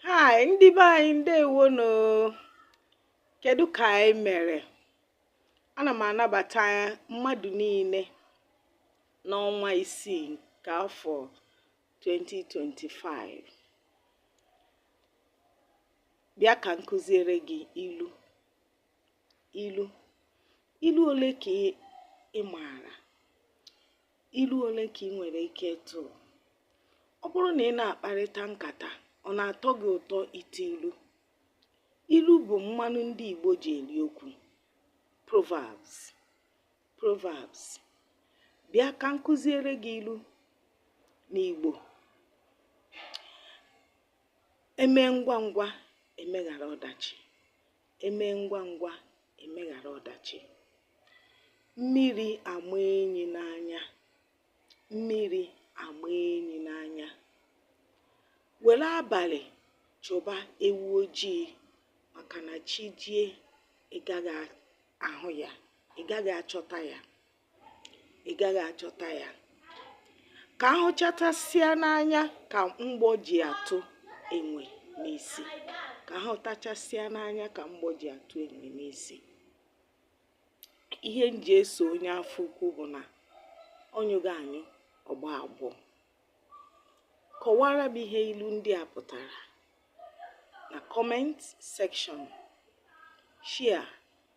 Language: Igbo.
Hi, ndị be anyị ndewo nụ. Kedu ka anyị mere? Ana m anabata mmadụ niile n'ọnwa isii nke afọ 2025. Bịa ka m kụziere gị ilu. Ilu. Ilu ole ka ị maara? Ilu ole ka ị nwere ike ịtụ? Ọ bụrụ na ị na-akparịta nkata, ọ na-atọ gị ụtọ ịtụ ilu? Ilu bụ mmanụ ndị Igbo ji eri okwu. Proverbs. Proverbs. Bịa ka m kụziere gị ilu n'Igbo. Emee ngwa ngwa emeghara ọdachi. emee ngwa ngwa emeghara ọdachi mmiri ama enyi n'anya mmiri ama enyi n'anya were abalị chụba ewu ojii maka na chi jie ị gaghị ahụ ya ị gaghị achọta ya ị gaghị achọta ya ka ahụchatasịa n'anya ka mgbọ ji atụ enwe n'isi ka ahụtachasịa n'anya ka mgbọ ji atụ enwe n'isi ihe m ji eso onye afọ ukwu bụ na ọ nyụghị anyụ ọ gbọọ agbọ kọwara m ihe ilu ndị a pụtara na comment section share